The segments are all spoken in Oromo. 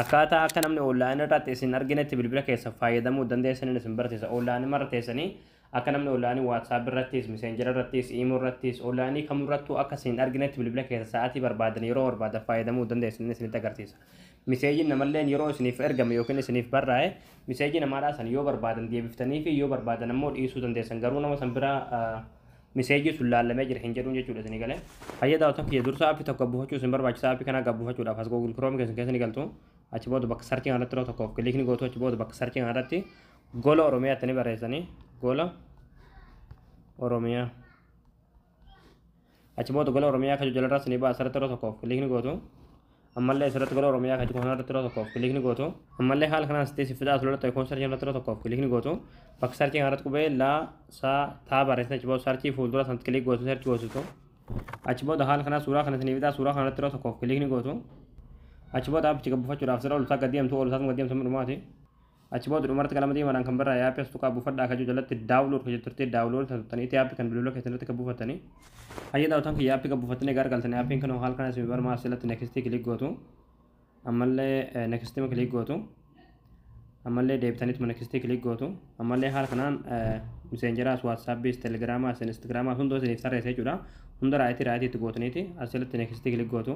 Akkaataa akka namni online irratti isin arginetti bilbila keessan fayyadamuu dandeessaniin isin barsiisa. Online irra teessanii akka namni online WhatsApp irrattis, Messenger irrattis, Imo irrattis, online kamirrattuu akka isin arginetti bilbila keessa sa'aatii barbaadan yeroo barbaadan fayyadamuu dandeessaniin isinitti agarsiisa. Miseejiin namalleen yeroo isiniif ergame yookiin isiniif barraa'e miseejii namaadhaa san yoo barbaadan deebiftanii fi yoo barbaadan ammoo dhiisuu dandeessan. Garuu nama san bira Miseejii sun laallamee jira hin jedhuun jechuudha isinii galee. Hayya daawwattoota kiyya dursa app tokko buufachuu isin barbaachisa app kana gad buufachuudhaaf as Google Chrome keessan keessa ni galtu achi booda bakka search kana irratti yeroo tokkoof click ni gootu achi booda bakka search kana irratti gola Oromiyaa itti ni barreessanii gola Oromiyaa achi booda gola Oromiyaa akka jala irratti ni baasa irratti yeroo tokkoof click ni gootu Ammallee asirratti gola Oromiyaa kan jiru kana irratti yeroo tokkoof kiliik ni gootu. Ammallee haala kanaan sittee siif fidaa asirratti icon search irratti yeroo tokkoof kiliik ni gootu. Bakka search kana irratti qubee la sa taa barreessite achi booda search fuuldura sanatti kiliik gootu search goositu. Achi booda haala kanaan suuraa kana isiniif fidaa suuraa kana irratti yeroo tokkoof kiliik ni gootu. Achi booda appicha gabbufachuudhaaf sirra ol isaa gadi deemtu ol isaas gadi deemtu dhumaati. Achi booda dhumarratti qalama diimaadhaan kan barraa'e app as tuqaa buufadhaa ka jiru jalatti download ka jettu turtee download ta tuttanii itti app kan bilbila keessan irratti ka buufattanii hayya daawwataan kiyya app ka buufattanii gaar galtanii appiin kan haal kana isin barmaa asirratti next click gootu ammallee next ma click gootu ammallee deebitaniit ma next click gootu ammallee haal kanaan miseenjeraas whatsappis telegramaas instagramaas hundoo isiniif tarreessa jechuudha hunda raayitii raayitii itti gootaniiti asirratti next click gootu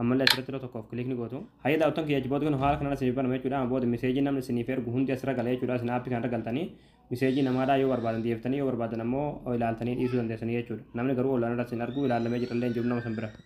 ammallee asirratti yeroo tokkoof kilikni gootu. Hayyee daawwattoon kiyya achi booda kun haala kanaan isiniif banama jechuudha. Amma booda miseejii namni isiniif ergu hundi asirra gala jechuudha. Isin aappii kanarra galtanii miseejii namaadhaa yoo barbaadan deebiftanii yoo barbaadan ammoo ilaaltanii dhiisuu dandeessanii jechuudha. Namni garuu onlaayinarra isin argu ilaallamee jirallee hin jiru nama san bira.